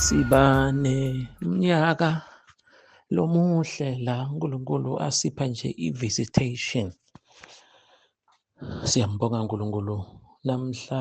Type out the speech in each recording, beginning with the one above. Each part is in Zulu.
Sibane mnyaka lomuhle la uNkulunkulu asipha nje i-visitation. Siyambonga uNkulunkulu namhla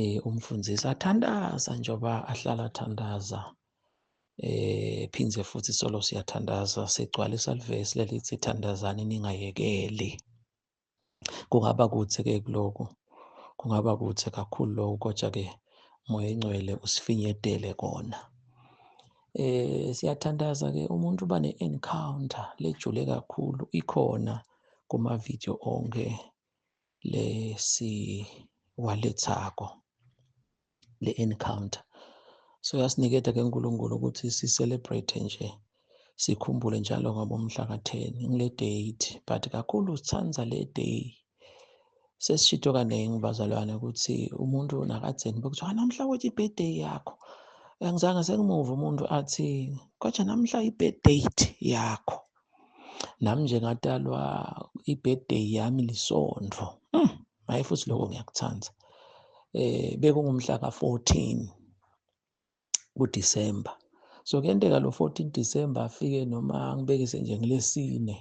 eh umfundisi athandaza njengoba ahlala athandaza eh phindze futhi solo siyathandaza sigcwalisa livesi lelithi thandazani ningayekeli kungaba kuthi ke kuloko kungaba kuthi kakhulu lokho kodwa ke moya ingcwele usifinyedele kona eh siyathandaza ke umuntu uba ne-encounter lejule kakhulu ikhona kuma-video onke lesiwalethako le encounter so yasiniketa ke uNkulunkulu ukuthi si celebrate nje sikhumbule njalo ngabomhla ka-10 ngile date but kakhulu sithanda le day sesishito kaningi bazalwane ukuthi umuntu nakatheni bekuthiwa namhla wethi i-birthday yakho angizange sengimuva umuntu athi kodwa namhla i-birth date yakho nami nje ngatalwa i-birthday yami lisondvo hmm, hayi mm, futhi lokho ngiyakuthanda eh bekungumhla ka-14 kuDisemba so kuyenteka lo 14 December afike noma ngibekise nje ngilesine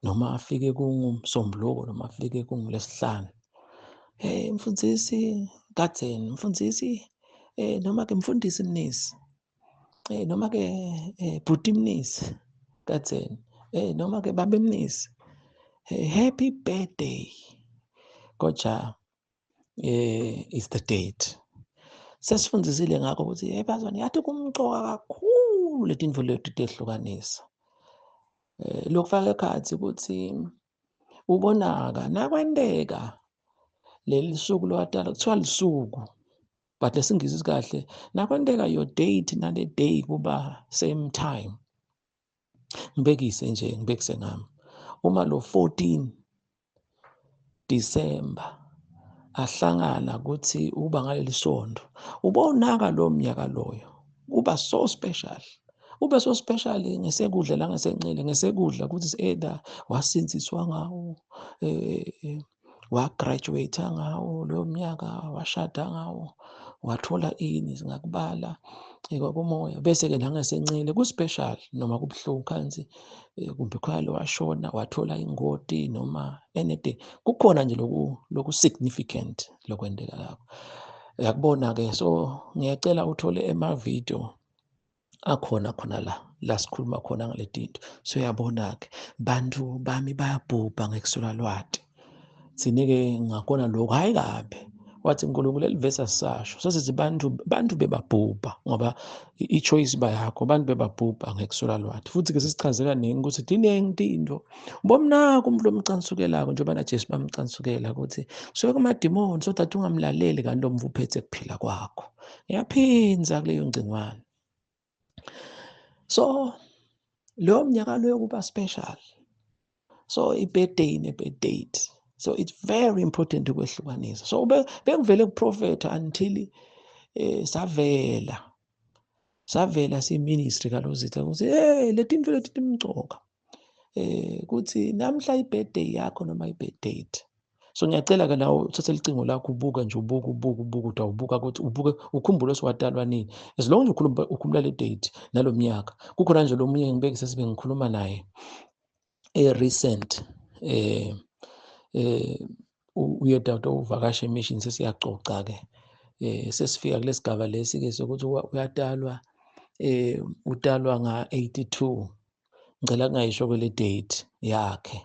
noma afike kungumsombuluko noma afike kungulesihlanu hey mfundisi kadzeni mfundisi eh noma ke mfundisi mnisi Eh noma ke eh bhuti mnisi katheni. Eh noma ke babe mnisi. Eh, happy birthday. Kodwa eh is the date. Sesifundisile ngakho ukuthi hey bazwane yathi kumqoka kakhulu letinfo lethu tehlukanisa. Eh lokufaka ekhathi ukuthi ubonaka nakwenteka leli suku lowatala kuthiwa lisuku but lesingisi sikahle nakwenteka your date nale day kuba same time ngibekise nje ngibekise ngami uma lo 14 December ahlangana ukuthi uba ngaleli sonto ubonaka lo mnyaka loyo kuba so special ube so special ngesekudla la ngesenxele ngesekudla ukuthi either wasinsiswa ngawo eh, eh, eh, wagraduate ngawo loyo mnyaka washada ngawo wathola ini singakubala kwakumoya bese-ke la ngasencele ku-special noma kubuhlungu khansi eh, kumbe khona washona wathola ingoti noma anything kukhona nje loku loku significant lokwendeka lapho yakubona-ke so ngiyacela uthole ema-video akhona khona la la sikhuluma khona ngale tinto so uyabona-ke bantu bami bayabhubha ngekuswela lwati thine-ke ngakona lokhu hhayi kabi wathi nkulunkulu elivesi asisasho sesithi bantu bantu bebabhubha ngoba i-choice iba yakho abantu bebabhubha ngekuswela lwati futhi-ke sisichaze kaningi ukuthi tiningi tinto bomnako umuntu omcansukelako njengoba najesu bamcansukela ukuthi suke kumadimoni so that ungamlaleli kanti lo mvu uphethe kuphila kwakho yaphinza kuleyo ngcingwane so leyo mnyaka leyo kuba special so i-birthday ne-birthday so it's very important ukwehlukanisa so bengivele kuprofetha until eh savela savela siministry kalozitha ukuthi hey leti into leti timcoka eh kuthi namhla ibirthday yakho noma ibirthday so ngiyacela ke nawe uthathe licingo lakho ubuke nje ubuke ubuke ubuke uthi awubuka ukuthi ubuke ukhumbule siwadalwa nini as long nje ukhuluma ukhumula le date nalo mnyaka kukhona nje lo munye ngibekise sibe ngikhuluma naye e-recent eh eh uye dawuda uvakashe emission sesiyacoca ke eh sesifika kulesigaba lesi ke sokuthi uyatalwa eh utalwa nga 82 ngicela kungayisho kwele date yakhe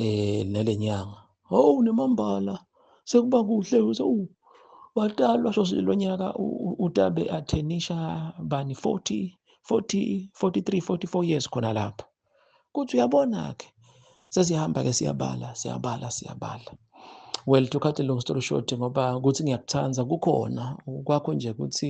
eh nelenyanga oh nemambala sekuba kuhle ukuthi oh watalwa so lo nyaka utabe athenisha bani 40 40 43 44 years khona lapho kuthi uyabona ke sesihamba ke siyabala siyabala siyabala well to cut a long story short ngoba ukuthi ngiyakuthanda kukhona kwakho nje ukuthi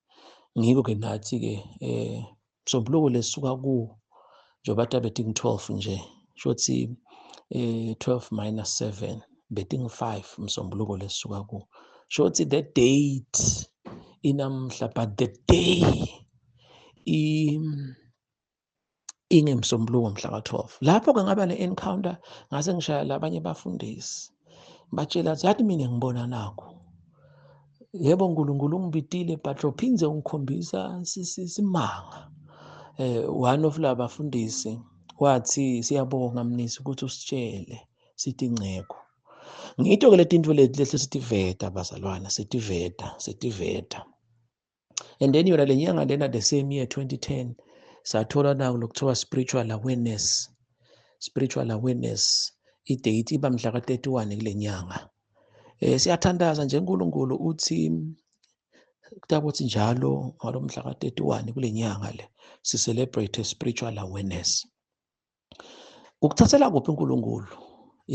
ngikho-ke nathi-ke um msombuluko lesisuka kuwo njengoba ta betting 12 nje sho ukuthi um 12 minus 7 betting 5 msombuluko lesisuka kuwo sho ukuthi the date inamhla but the day ingemsombuluko mhla ka-12 lapho-ke ngaba ne-encounter ngase ngishaya labanye bafundisi batshela ukuthi yathi mina ngibona nakho yebo nkulunkulu ungibitile but lophinde ungikhombisa simanga eh one of la bafundisi wathi siyabonga mnisi ukuthi usitshele sithi ngceko ngitho ke letinto leti lehle sitiveta bazalwana sitiveta sitiveta and then yona le nyanga lena the same year 2010 sathola nawo lokuthiwa spiritual awareness spiritual awareness idate iba mhla ka-31 kule nyanga um siyathandaza nje unkulunkulu uthi kutakuthi njalo ngalo mhla ka-31 kule nyanga le si-celebrate spiritual awareness Ukuthathela kuphi uNkulunkulu?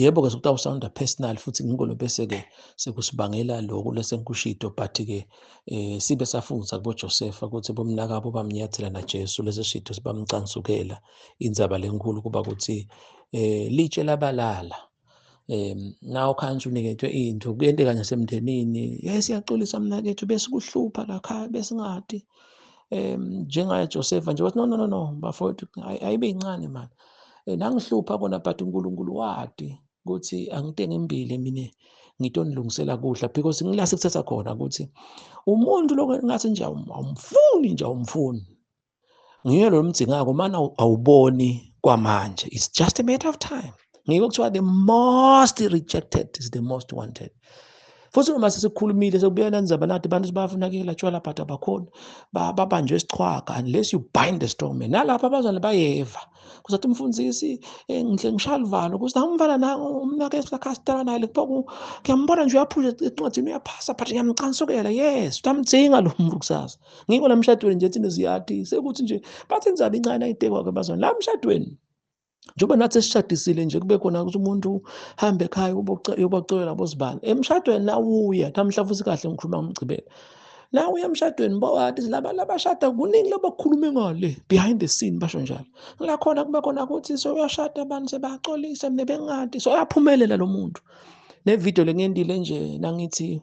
Yebo ke sokuthi awusawunda personal futhi ngikho lo bese ke sekusibangela lokho lesenkushido but ke eh sibe safundisa kubo Joseph ukuthi bomnakabo bamnyathela na Jesu lesi shido sibamcansukela indzaba lenkulu kuba ukuthi eh litshe labalala um nawo khansi unikethwe into kuyenteka nasemndenini ye siyaxolisa mnakethu besikuhlupha lakhaya besingadi um njengaye josefa nje wathi no no no no bafowethu ayibe yincane mani eh, nangihlupha kona but unkulunkulu wadi ukuthi angitenge imbili mina ngito nilungisela kudla because ngila sekuthatha khona ukuthi umuntu lokho ngathi nje awumfuni nje awumfuni Nguye lo mdzingako umane awuboni kwamanje. It's just a matter of time. Ngeke kuthiwa the most rejected is the most wanted. Futhi noma sesikhulumile sekubuya nanizaba nathi abantu sibafunakela tshwala but abakhona babanjwe isichwaga unless you bind the strong man. Nalapha abazali bayeva. Kuzathi umfundisi eh, ngihle ngishalivalo kuthi namfana na umnake sakastela naye lekupho ngiyambona nje uyaphusha encwadini uyaphasa but ngiyamcansukela yes utamdzinga lo muntu kusasa. ngikho la mshadweni nje thina ziyathi sekuthi nje bathi inzaba incane ayitekwa-ke bazona la mshadweni njengoba nathi esishadisile nje kube khona ukuthi umuntu hambe ekhaya yobacolela bozibani emshadweni nawuya namhla futhi kahle ngikhuluma ngomgcibelo nawe emshadweni bowati laba labashada kuningi labakhulume ngale behind the scene basho njalo la khona kube khona ukuthi soyashada abantu sebaxolisa nebengadi soyaphumelela lo muntu nevidiyo lengiyendile nje nangithi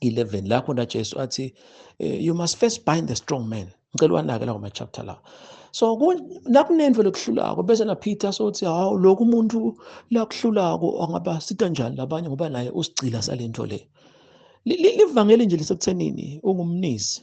11 la khona Jesu athi eh, you must first bind the strong man ngicela wanake lawo ma chapter lawo so nakunento lokuhlulako bese na Peter sothi hawu lokhu umuntu lakuhlulako angaba sita njani labanye ngoba naye usigcila salento le livangeli nje lisekuthenini ungumnisi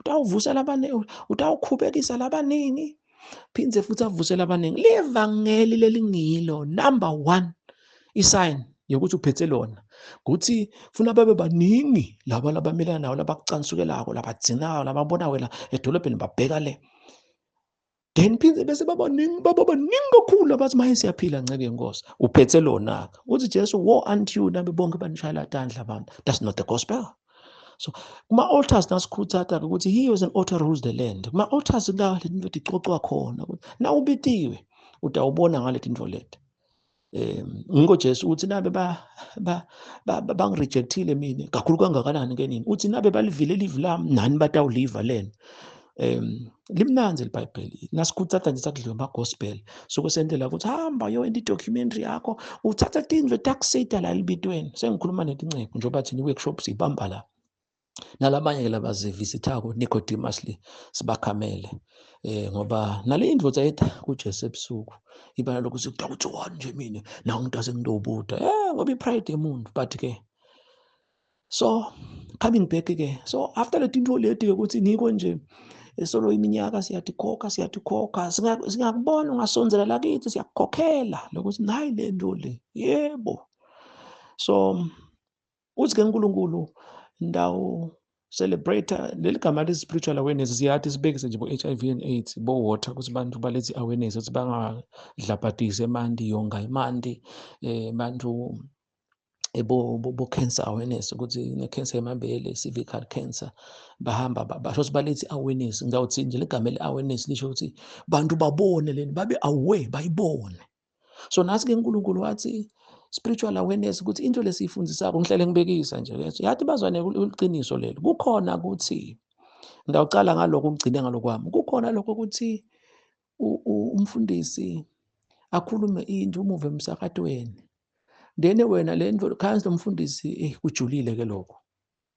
utawuvusa labaningi utawukhubekisa labaningi phinde futhi avuse labaningi livangeli lelingilo number one isign yokuthi uphethe lona ukuthi funa babe baningi laba labamelana nawo labakucansukelako labadzinayo lababona wena edolobheni babheka le then phinde bese babaningi baba baningi kakhulu abathi maye siyaphila nceke yenkosi uphethe lona-ke uthi jesu wo unto you nabe bonke banishayela tandla abantu that's not the gospel so kuma-altars nasikhuthatha-ke ukuthi he was an altar rules the land kuma-altars la le nto icocwa khona ukuthi na ubitiwe utawubona ngale tinto leti um ngikho jesu uthi nabe bangirejectile mina kakhulu kangakanani ke nini uthi nabe balivile livi lami nani batawuliva lena um limnanzi elibhayibheli nasikhuthatha nje sakudliwe ama-gospel suke sendlela ukuthi hamba yo enda i-documentary yakho uthatha tindlu etakusita la elibitweni sengikhuluma netinceku njengoba thina i-workshop siyibamba la nalabanye ke labazivizithako Nicodemus le sibakhamele eh ngoba nale indvodza etha kuJesu ebusuku ibala lokuthi kuthiwa kuthi one nje mina nawu umuntu asengidobuda eh ngoba ipride yemuntu but ke so coming back ke so after le tinto leti ke ukuthi ngiko nje esolo iminyaka siyatikhokha siyatikhokha singakubona ungasondzela lakithi siyakukhokhela lokuthi nayi le nto le yebo so uthi ke uNkulunkulu ndawo celebrate leli gama le spiritual awareness siyathi sibekise nje bo-HIV and AIDS bo-water ukuthi abantu balethi awareness ukuthi bangadlabhadisi emanti yonga emanti eh bantu bo-cancer awareness ukuthi ne-cancer yemabele cervical cancer bahamba basho ukuthi balethi awareness ngawuthi nje ligama le-awareness lisho ukuthi bantu babone leni babe aware bayibone so nasi ke uNkulunkulu wathi spiritual awareness ukuthi into lesiyifundisako ngihlele ngibekisa nje ke yathi bazwane uliqiniso leli kukhona ukuthi ngiyawucala ngaloko ukugcine ngalokwami kukhona lokho ukuthi umfundisi akhulume into umuve emsakatweni then wena le ndlu khansi lomfundisi eh kujulile ke lokho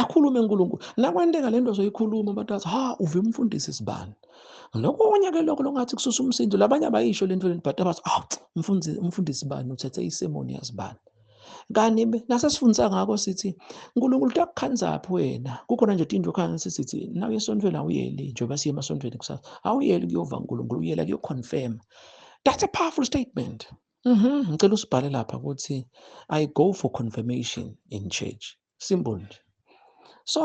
akhulume uNkulunkulu nakwenteka lento ozoyikhuluma abantu athi ha uve umfundisi sibani nokunye ke lokho longathi kususa umsindo labanye abayisho lento lento but abathi ah umfundisi umfundisi bani uthethe isemoni yazibani kanti nasesifundisa ngakho sithi uNkulunkulu utakukhandzaphi wena kukhona nje into khona sithi naw esontweni awuyeli njengoba siye emasontweni kusasa awuyeli kuyova uNkulunkulu uyela kuyoconfirm that's a powerful statement Mhm, ngicela usibhale lapha ukuthi I go for confirmation in church. Simple nje. So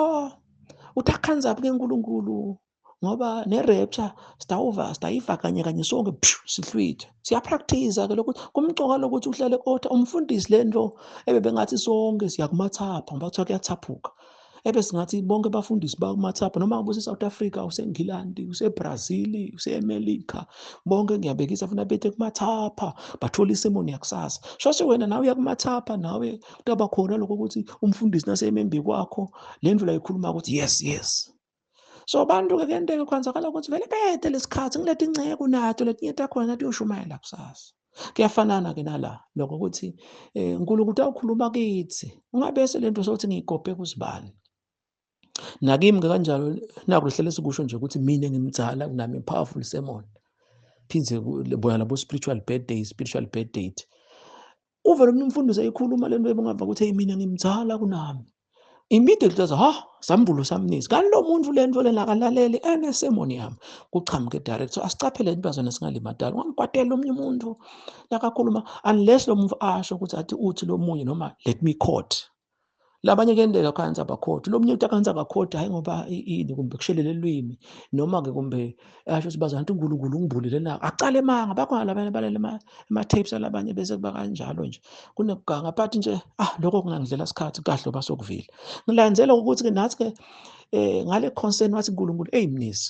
uthi akhanze abuke uNkulunkulu ngoba ne-rapture sitawuva sitayiva kanye kanye sonke pshu sihlwithe siyapractice-a ke lokuthi kumcoka lokuthi uhlale kotha umfundisi le nto ebebengathi sonke siyakumathapha ngoba kuthiwa kuyathaphuka ebe singathi bonke abafundisi bakumathapha noma ngabe use-south africa usengilandi usebrazil usemelika bonke ngiyabekisa funa bethe kumathapha bathole isemoni yakusasa shoshe wena nawe uyakumathapha nawe kutaba khona lokho ukuthi umfundisi naseyemembe kwakho le ndlela yikhuluma ukuthi yes yes so abantu-ke kuyenteka kwenzakala ukuthi vele bede lesikhathi ngilethe inceku nato letinye takhona nato uyoshumayela kusasa kuyafanana-ke nala lokho ukuthi um nkulunkulu utawukhuluma kithi ungabese le nto sokuthi ngiyigobhe kuzibani nakimi-ke kanjalo naku lihlele sikusho nje ukuthi mina ngimdzala kunami powerful sermon phindze bona labo-spiritual birthday spiritual birth date uvele umuntu umfundisi eyikhuluma lento ebungava ukuthi hey mina ngimzala kunami immediately aza ha sambulo samnisi kanti lo muntu lento lena akalaleli enesemoni yami kuchamuke direct so asicaphele into azona singalimadala ungamkwatela omunye umuntu lakakhuluma unless lo muntu asho ukuthi athi uthi lo munye noma let me court labanye kuyenteka akhansi abakhodi lo mnye uthi akhansi akakhodi hhayi ngoba ini kumbe kushelele lwimi noma-ke kumbe asho ukuthi bazana ukuthi unkulunkulu ungibulile na acala emanga bakhona labanye balele ema-tapes alabanye bese kuba kanjalo nje kunekuganga but nje ah lokho kungangidlela sikhathi kahle oba sokuvile ngilandzela ukuthi-ke nathi-ke um ngale concern wathi unkulunkulu eyi mnisi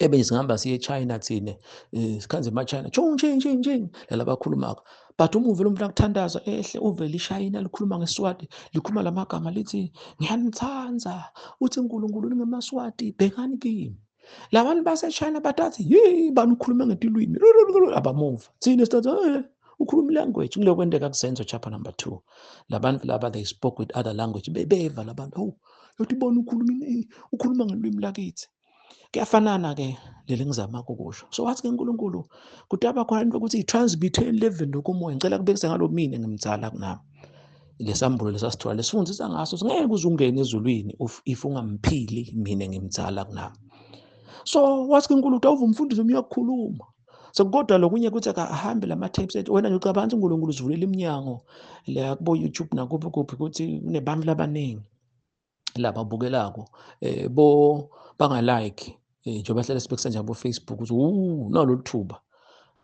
Eben singihamba siye eChina thina eh, sikhanze emaChina chung ching ching ching lala bakhulumaka but uma uvela umuntu akuthandaza ehle uvele ishayina likhuluma ngeswati likhuluma la magama lithi ngiyanithanda uthi unkulunkulu ningemaswati bhekani kimi labantu basechina batathi yi bani ukhuluma ngetilwimi abamuva thina sithatha eh, ukhuluma ilanguage kuleyo kwenteka kusenzo chapter number two labantu laba they spoke with other language bebeva labantu hawu yothi ubona ukhuluma ukhuluma ngelwimi lakithi kuyafanana-ke leli ngizama kukusho so wathi ke unkulunkulu kutaba khona into yokuthi i-transmute eleven lokomoya ngicela kubekisa ngalo mina ngimdzala kunami lesambulo lesasithola lesifundisa ngaso singeke uze ungene ezulwini if ungamphili mina ngimdzala kunami so wathi kunkulunkulu awuve umfundisi omunye uyakukhuluma so kodwa lokunye kuthi akahambe lama tapes ethi wena nje ucabanga ukuthi uNkulunkulu uzivulela iminyango la kubo YouTube nakuphi kuphi ukuthi kunebantu labaningi laba bukelako eh bo banga like eh, njengoba hlale sibekisa nje abo Facebook ukuthi uh nalolu thuba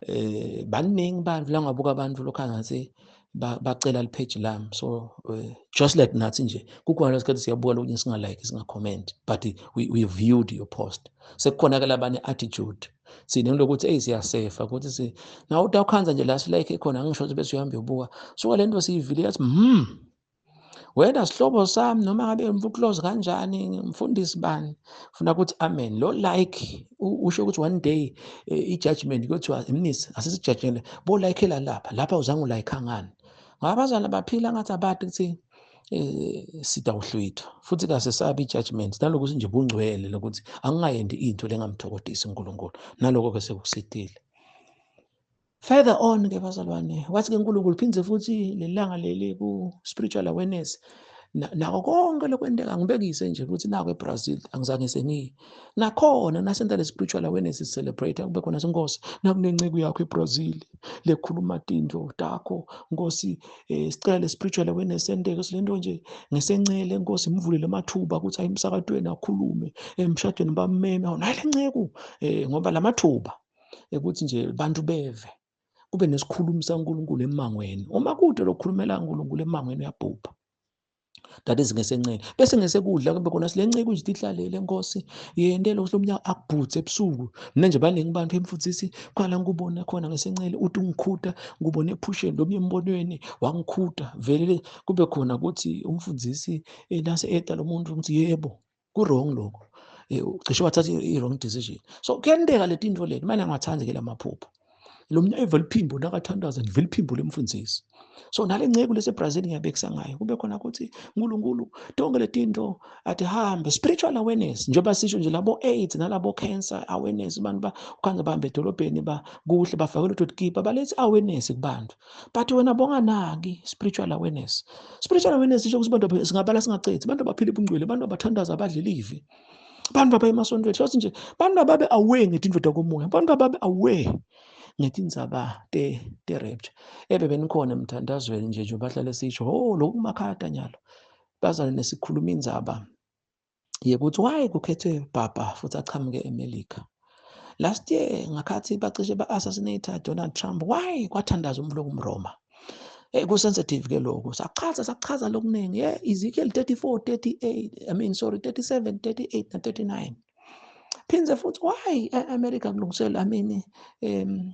eh baningi abantu la ngabuka abantu lokho ngathi bacela lipage lami so uh, just like nathi nje kukhona lesikhathi siyabuka lokunye singalike singacommenti but we, we viewed your post sekukhona ke labane attitude sine lokuthi eyi siyasefa ukuthi si nawe uthi awukhanza nje la silike khona ngisho ukuthi bese uhambe uyobuka suka le nto siyivile yathi hmm wena sihlobo sami noma ngabe mfuklozi kanjani mfundisi bani funa ukuthi amen lo like usho ukuthi one day eh, i-judgment kuthiwa mnisi asisijajele bo-likela lapha lapha uzange ulayikha ngani ngoba abazali baphila ngathi abati kuthini eh sitawuhlwitha futhi kasesabi judgment naloko sinje bungcwele lokuthi angingayendi into lengamthokodisi uNkulunkulu naloko ke sekusidile further on ke bazalwane wathi ke uNkulunkulu phindze futhi lelanga leli ku spiritual awareness nako konke lokwenteka ngibekise nje ukuthi nako eBrazil angizange sengiyi nakhona nasenta le-spiritual awareness celebrate kube khona sinkosi nakunenceku yakho ebrazil lekhuluma tindlo takho nkosi um sicela le-spiritual awareness enteke sile nto nje ngesencele nkosi mvulele amathuba ukuthi ayi emsakatweni akhulume emshadweni bameme awu nayi le nceku um ngoba la mathuba ukuthi nje bantu beve kube nesikhulumi sankulunkulu emangweni uma kude lokukhulumela nkulunkulu emangweni uyabhubha that is ngesenxele bese ngesekudla kube khona sile nceku nje ihlalele nkosi yende lo mnyaka akubhuthe ebusuku mina nje baningi abantu emfundisi qala ngikubona khona ngesenxele uthi ungikhuta ngubone ephusheni lomnye embonweni wangikhuta vele kube khona ukuthi umfundisi enase eta lo muntu ukuthi yebo ku-wrong lokho eh, cishe wathatha i-wrong decision so kuyenteka le tinto leti mane angathandi ke la maphupho lo mntu evele iphimbo nakathandaza ngivele iphimbo lemfundisi so nale nceku lesebrazil ngiyabekisa ngayo kube khona ukuthi nkulunkulu tonke le tinto athi hambe spiritual awareness njengoba sisho nje labo-aids nalabo-cancer awareness abantu ukhanga bahamba edolobheni bakuhle bafake lutho tikipa balethe awareness kubantu but wena bonganaki spiritual awareness spiritual awareness isho ukuthi abantu singabala singacethi abantu abaphila ubungcwele abantu abathandaza abadla ilivi abantu abaya emasontweni hlose nje abantu ababe aware ngetindoda komoya abantu ababe aware ngetindzaba te-rapture ebe benikhona emthandazweni nje nje bahlale sisho o oh, loku kumakhaya tanyalo bazane nesikhuluma indzaba yekuthi why kukhethwe Papa futhi aqhamuke eMelika last year ngakhathi bacishe ba-assassinate Donald Trump why kwathandaza umuntu okumroma Eh, kusensitive ke lokho sachaza sachaza lokuningi yeah Ezekiel 34 38 I mean sorry 37 38 na 39 phindze futhi why e-America kulungisela I mean um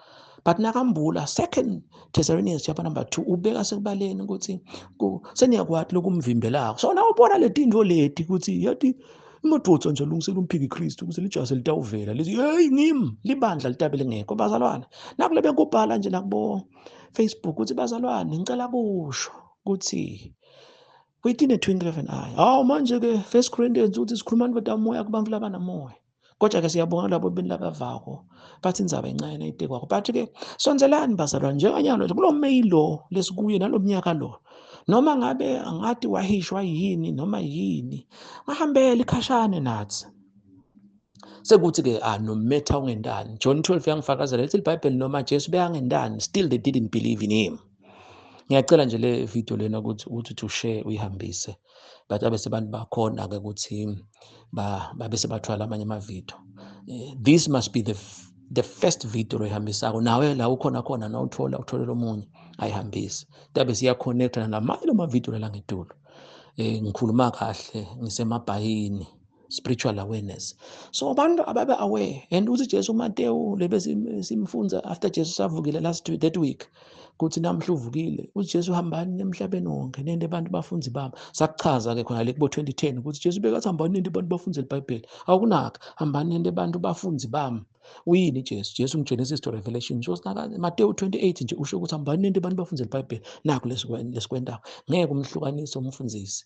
but nakambula second Thessalonians chapter number 2 ubeka sekubaleni ukuthi seniyakwati lokumvimbelako so nawe ubona letinto leti ukuthi yathi imadvodza nje alungisela umphiki Kristu ukuthi lijase litawuvela lithi hey ngim libandla litabe lingekho bazalwane nakule bekubhala nje nakubo Facebook ukuthi bazalwane ngicela kusho ukuthi within a twinkle of an eye hawu manje ke first Corinthians uthi sikhuluma ndoda moya kubantu labanamoya kodwa ke siyabonga labo benilabavako bathi inzaba incane nayibhekwako but ke sonzelani bazalwane njenganyalo nje kulo meyi lo lesikuye nalo mnyaka lo noma ngabe angathi wahishwa yini noma yini ngahambele ikhashane nathi sekuthi-ke ah no matter ungentani john 12 yangifakazela lithi libhayibheli noma jesu beyangentani still they didn't believe in him ngiyacela nje le video lena ukuthi uthi ushare uyihambise but babe sebantu bakhona-ke ukuthi babe sebathwala amanye amavidiyo eh, this must be the the first video oyihambisako nawe la ukhona khona na uthola utholela omunye ayihambise tabe siyakhonekthana namanye lamavidiyo lala ngedulo um eh, ngikhuluma kahle ngisemabhayini spiritual awareness so abantu ababe aware and uthi Jesu Matewu lebe simfunza after Jesu savukile last week that week kuthi namhla uvukile uJesu hambani emhlabeni wonke nende abantu bafunzi bami sakuchaza ke khona le kubo 2010 ukuthi Jesu bekathi hambani nende abantu bafunze iBhayibheli awukunaka hambani nende abantu bafunzi bami uyini Jesu Jesu ngiGenesis to Revelation ngisho sinaka Matewu 28 nje usho ukuthi hambani nende abantu bafunze iBhayibheli naku lesikwendawo ngeke umhlukanise umfundisi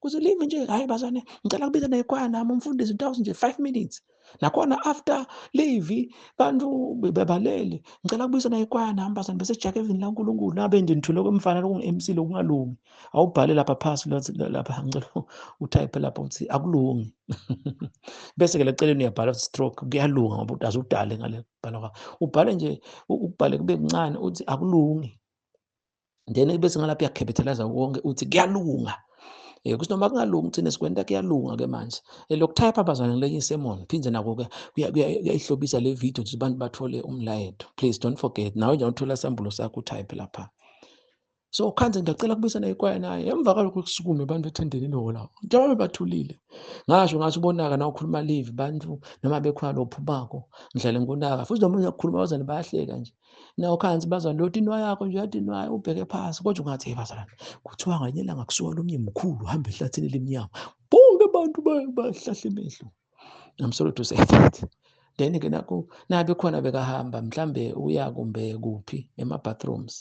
kuzilingi nje hayi bazane ngicela kubiza nekhwaya nami umfundisi ngitawuzi nje five minutes nakhona after leave bantu bebalele ngicela kubiza nekhwaya nami bazane bese jake evini lankulunkulu nabe nje ngithule kwemfana lokungu-mc lokungalungi awubhale lapha phasi lapha ngicela utype lapha ukuthi akulungi bese-ke leceleni uyabhala ukuthi stroke kuyalunga ngoba udaze udale ngale bhala kwakho ubhale nje ukubhale kube kuncane uthi akulungi then bese ngalapho yakhephethelaza konke uthi kuyalunga Eh kusho noma kungalungi thina sikwenta kuyalunga ke manje. Eh, Lokuthayipha bazwana ngilenye isemon phinde nako ke kuyayihlobisa le video ukuthi abantu bathole umlayeto. Please don't forget nawe nje uthola sambulo sakho utype lapha. So khanze ngiyacela kubuyisana ikwaya naye emva kwalokho kusukume abantu bethendeni ilola. Njengoba bathulile. Ngasho ngathi ubonaka na ukhuluma live bantu noma bekhona lophu bako. Ngidlale ngonaka futhi noma uyakhuluma bazane bayahleka nje. nawo khanzi bazalwane loti inwa yakho nje yathi inwa ubheke phansi kodwa ungathi hey bazalwane kuthiwa nganye langa kusuka lomnye mkhulu hamba ehlathini elimnyama bonke abantu bahlahla imehlo i'm sorry to say that then ke nakho nabe khona bekahamba mhlambe uya kumbe kuphi ema bathrooms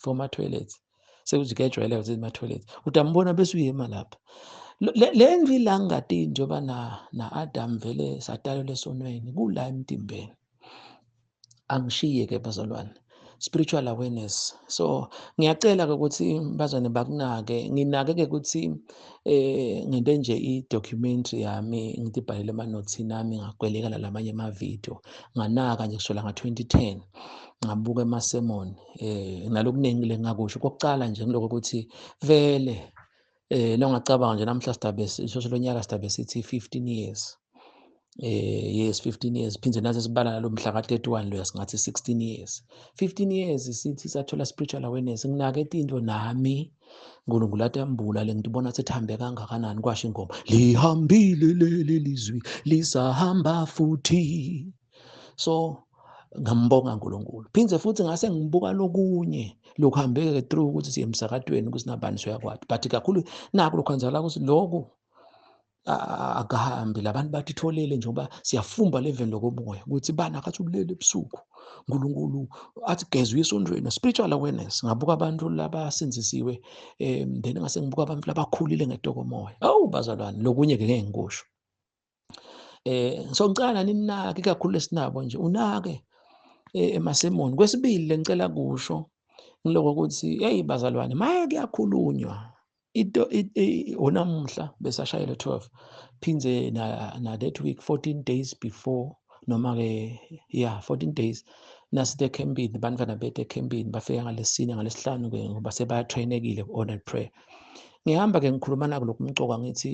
for ma toilets sekuthi kuyajwayela ukuthi ma toilets udambona bese uyema lapha le ndlu ilangati njengoba na na Adam vele sadalwa lesonweni kula emtimbeni angishiye ke bazalwane spiritual awareness so ngiyacela ke ukuthi bazwane bakunake nginake ke ukuthi eh ngente nje i documentary yami ngidibhalele ama notes nami ngagweleka lalamanye ama video nganaka nje kusola nga 2010 ngabuka emasemoni eh nalokuningi lengakusho kokucala nje ngiloko ukuthi vele eh longacabanga nje namhla sidabe sishoshe lonyaka sidabe sithi 15 years eh yes 15 years phinde nathi sibala nalomhla ka 31 lo singathi 16 years 15 years sithi sathola spiritual awareness nginake into nami uNkulunkulu atembula le ngithi ubona sithambe kangakanani kwasho ingoma lihambile leli lizwi lisahamba futhi so ngambonga uNkulunkulu phinde futhi ngase ngibuka lokunye lokuhambeke through ukuthi siye emsakatweni ukuthi nabani soyakwati but kakhulu naku lokho kwenzakala ukuthi lokhu akahambi labantu bathi tholele njengoba siyafumba leveni lokomoya ukuthi bani akathi ubulele ebusuku uNkulunkulu athi geza uyisondweni spiritual awareness ngabuka abantu labasindisiwe um then ngase ngibuka abantu labakhulile ngetokomoya awu bazalwane lokunye ke ngeke ngikusho eh sokucala ninake kakhulu esinabo nje unake eh, emasemoni kwesibili lenicela kusho ngiloko ukuthi hey bazalwane maye kuyakhulunywa into onamuhla besashayela 12 phinde na, na that week 14 days before noma ke yeah 14 days nasithe ekhempini bantwana bethu ekhempini bafika ngalesine ngalesihlanu ke ngoba sebatrainekile ku-ordered prayer ngihamba ke ngikhuluma nako lokhu mcoka ngithi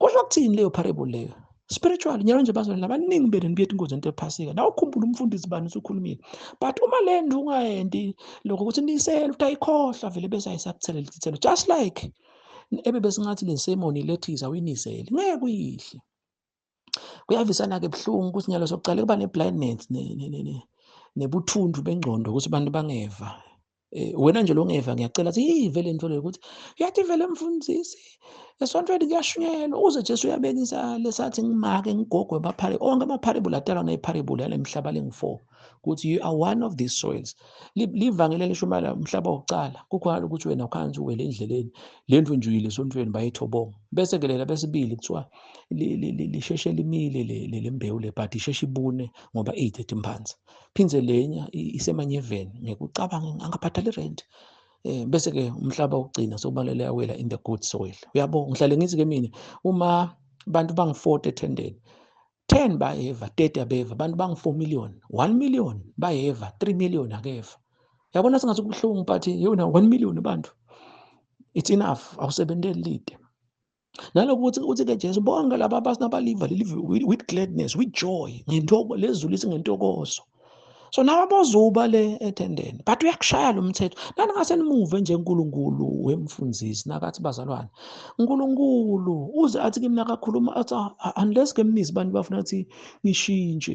kusho ukuthini leyo parable leyo spiritual nyalo nje bazalwane labaningi benu nibuyetha ingozi ento ephasika nawe ukhumbula umfundisi bani usukhulumile but uma le nto ungayendi lokho ukuthi niyisele ukuthi ayikhohlwa vele bese ayisakuthelela isithelo just like ebe besingathi le semoni lethiza uyinisele ngeke kuyihle kuyavisana-ke buhlungu ukuthi nyalo sokucala kuba ne-blindness nebuthundu bengcondo ukuthi abantu bangeva Eh, wena nje longeva ngiyacela athi hey vele into leyo ukuthi yathi vele mfundisi esontweni kuyashunyelwa uze Jesu uyabeka isale sathi ngimake ngigogwe amaphare onke amapharebula atalwa ngepharebula yale mhlaba lengu-4 ukuthi you are one of these soils livangeli elishumayela umhlaba wokuqala kukhona ukuthi wena ukhanzi uwele endleleni le ndlu nje uyile esontweni bayethobonga bese ke lela besibili kuthiwa lisheshe limile le mbewu le but isheshe ibune ngoba iyithethe imphansi phindze lenya isemanyeveni ngekucabanga angabhadali rent eh bese ke umhlaba ugcina sobalele awela in the good soil uyabo ngihlale ngithi ke mina uma abantu bangi-40 ethendeni 10 bayeva 30 abeva abantu bangi-4 million 1 million bayeva 3 million akeva yabona singathi kubuhlungu but yona 1 million abantu it's enough awusebenteli lide naloku ukuthi uthi-ke jesu bonke laba abasinabaliva with gladness with joy lezulu lithi ngentokozo so naba bozuba le ethendeni but uyakushaya lo mthetho naningase nimuve nje unkulunkulu wemfundisi nakathi bazalwane unkulunkulu uze athi kimi nakakhuluma athi ah, unless ke mnizi abantu bafuna ukuthi ngishintshe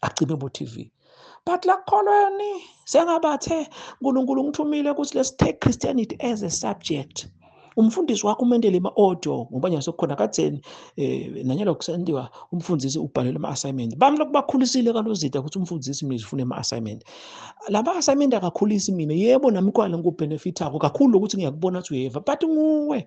acime bo TV but lakholweni sengabathe uNkulunkulu ngithumile ukuthi let's take Christianity as a subject umfundisi wakho umendele ama-audio ngoba nje sekukhona katheni um eh, nanyalo kusendiwa umfundisi ubhalele ama-assignment bami lokhu bakhulisile kalozida ukuthi umfundisi mina zifune ama-assignment la ma-assignment akakhulisi mina yebo nami kwale ngikubhenefithako kakhulu lokuthi ngiyakubona ukuthi uyeva but nguwe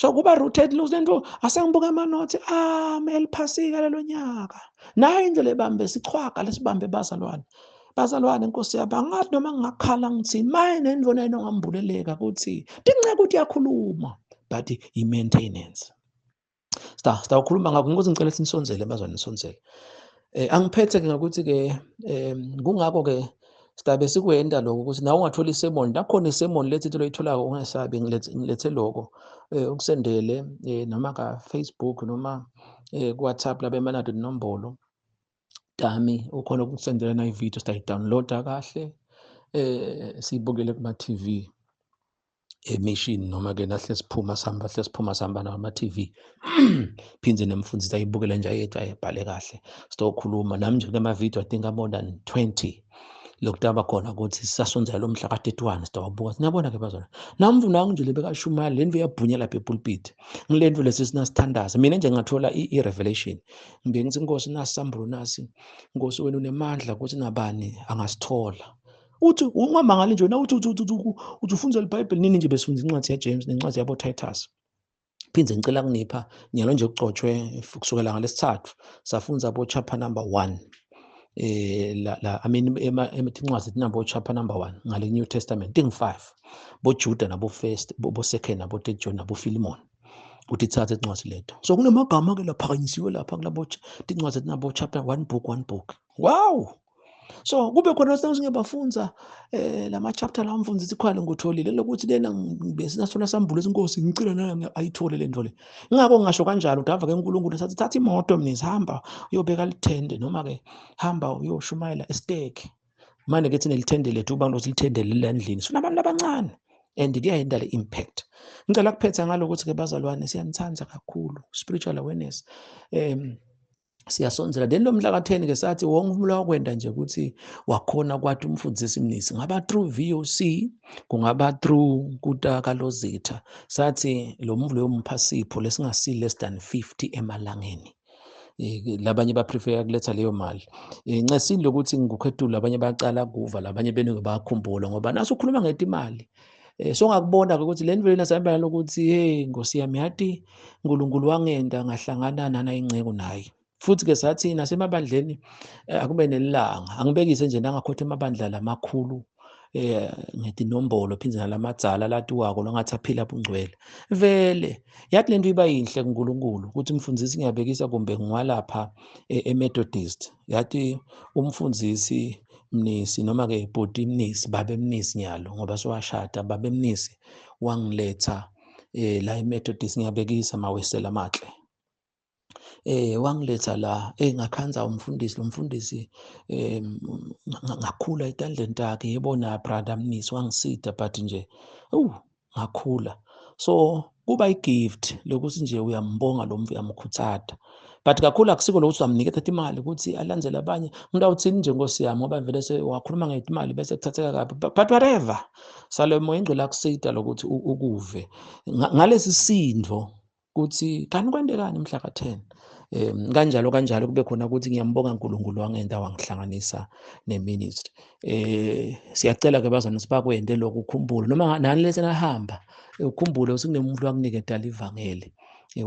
so kuba rooted lose lento asengibuka amanothi ami ah, eliphasika lelo nyaka nayo indlela ebambe sichwaga lesibambe bazalwane bazalwane nkosi yaba ngathi noma ngingakhala ngithi maye nento nayino ngambuleleka ukuthi ndincenga ukuthi yakhuluma but i-maintenance Sta, sta ukhuluma ngakho ngokuthi ngicela sinisonzele bazwane nisonzele. Eh angiphethe ke ngokuthi ke eh kungakho ke sidabe sikwenda lokho ukuthi nawe ungathola isemoni lakhona isemoni lethi into loyitholako ungesabi ngilethe loko eh ukusendele eh, noma ka-facebook noma eh, ku-whatsapp labemanado inombolo Dami ukhona ukusendela na ivideo sidayidownloada kahle eh siyibukele kuma TV emishini noma ke nahle siphuma sihamba hle siphuma sihamba nama TV phinde nemfundisi ayibukele nje ayethu ayibhale kahle sizokhuluma nami nje kama video i think more than 20 lokutaba khona ukuthi sisasondzela lo mhla ka-31 sitawubuka siniyabona-ke bazona namvu nangu nje lebekashumayela le nto iyabhunya lapha epulpiti ngile nto lesi sinasithandaza mina nje ngathola i-revelation ngibe ngithi nkosi nasi sambulo nasi nkosi wena unemandla ukuthi nabani angasithola uthi ungamangali nje wena uthi uthi uthi uthi uthi ufunza libhayibheli nini nje besifunza incwadi yajames nencwadi yabotitus phinde ngicela kunipha nyalo nje kugcotshwe kusukela ngalesithathu safunza bo chapter number 1 eh la, la i mean emithincwazi tinabo chapter number 1 ngale new testament ting 5 bo Juda nabo first bo second nabo third John nabo Philemon ukuthi thathe incwadi leto so kunamagama ke laphakanyisiwe lapha kulabo tincwadi tinabo chapter 1 book 1 book wow so kube khona sekuzinge bafunza eh lama chapter la mfundisi isikhwale ngotholile lokuthi lena besinasona sambulo inkosi ngicela nayo ayithole le nto le ngakho ngisho kanjalo udava ke uNkulunkulu sathi thatha imoto mina sihamba uyobeka lithende noma ke hamba uyoshumayela estake manje ke thina lithende lethu abantu silithendele lendlini sifuna abantu abancane and kuyayenda le impact ngicela kuphetha ngalokuthi ke bazalwane siyanithanda kakhulu spiritual awareness um siyasondzela then lo mhla ka-10 ke sathi wonke umula wakwenta nje ukuthi wakhona kwathi umfundisi mnisi ngaba through voc kungaba through kuta kalozitha sathi lo mvulo yomupha sipho lesingasili less than 50 emalangeni labanye baprefer kuletha leyo mali eh, ncesini lokuthi ngikukhetula abanye bacala kuva labanye beningi bakhumbula ngoba naso ukhuluma ngetimali Eh, so ngakubona-ke ukuthi le nivele nasabelana lokuthi hey nkosi yami yathi unkulunkulu wangenda ngahlangana nana inceku naye futhi-ke sathi nasemabandleni eh, akube nelanga angibekise nje nangakhotha emabandla lamakhulu eh ngedinombolo phinde nalamadzala latiwako longathi aphila bungcwele vele yathi lento iba yinhle kuNkulunkulu ukuthi umfundisi ngiyabekisa kumbe ngiwalapha eh, eMethodist yathi umfundisi Mnisi noma ke bhuti Mnisi babe Mnisi nyalo ngoba sowashada babe Mnisi wangiletha eh la eMethodist ngiyabekisa mawesela amahle eh wangiletha la eh ngakhanza umfundisi lo mfundisi eh ngakhula etandleni takhe yebona brother Mnisi wangisida but nje uh ngakhula so kuba i-gift lokuthi nje uyambonga lo mntu uyamkhuthada but kakhulu akusiko lokuthi uyamnikeza thatha imali ukuthi alandele abanye umuntu awuthini nje nkosi yami ngoba vele wakhuluma ngemali bese kuthatheka kabi but whatever sale moya ingcwele akusida lokuthi ukuve ngalesi sindvo kuthi kanti kwentekani mhla ka-10 um kanjalo kanjalo kube khona ukuthi ngiyambonga uNkulunkulu wangenta wangihlanganisa neministry um siyacela ke bazana sibakwente lokhu ukhumbule noma nani lesi nahamba ukhumbule ukuthi kunemuntu wakunike dala ivangeli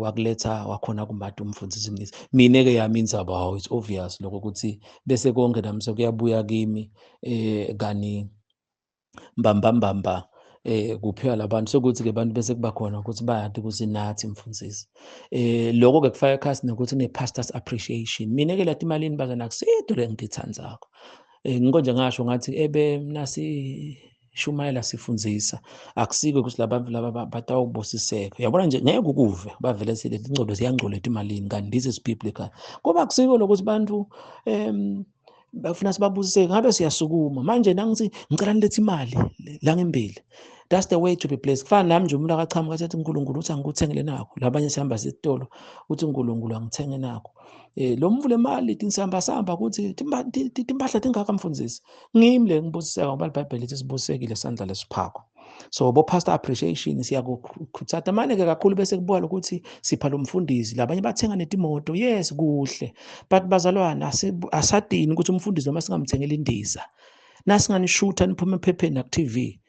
wakuletha wakhona kumati umfundisi mnisi mina-ke yami inzaba hawu it's obvious lokho ukuthi bese konke nami sekuyabuya kimi um kani mbambambamba eh kuphiwa labantu sokuthi ke abantu bese kuba khona ukuthi bayade kuzinathi mfundisi eh lokho ke kufaka ekhasi nokuthi ne pastors appreciation mina ke lathi imalini baze nakusedo le ngithandzako eh ngikho nje ngasho ngathi ebe nasi shumayela sifundisa akusike ukuthi labantu laba batawubusiseka yabona nje ngeke ukuve bavele silethi ingcodo ziyangcola ethi imalini kanti this is biblical ngoba akusiko lokuthi abantu um bafuna sibabusise ngabe siyasukuma manje nangithi ngicela nilethe imali la ngembili that's the way to be blessed kufana nami nje umuntu akaqhamuka athi uNkulunkulu uthi angikuthengele nakho labanye sihamba sesitolo uthi uNkulunkulu angithenge nakho eh lo mvu le mali tinsamba samba ukuthi timpahla tingaka mfundisi ngimi le ngibusiseka ngoba iBhayibheli lithi sibusekile sandla lesiphako so bo pastor appreciation siyakukhuthatha manje ke kakhulu bese kubona ukuthi sipha lo mfundisi labanye bathenga netimoto yes kuhle but bazalwana asadini ukuthi umfundisi noma singamthengela indiza nasinganishutha niphuma ephepheni naku TV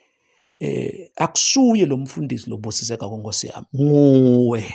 eh akusuye lo mfundisi lobusiseka konkosi yami nguwe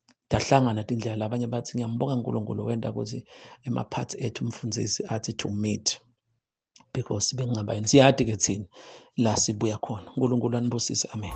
Dahlangana tindlela abanye bathi ngiyambonga uNkulunkulu wenda ukuthi emaphathi ethu umfundisi athi to meet because bekungaba yini siyadi ke thina la sibuya khona uNkulunkulu anibusise amen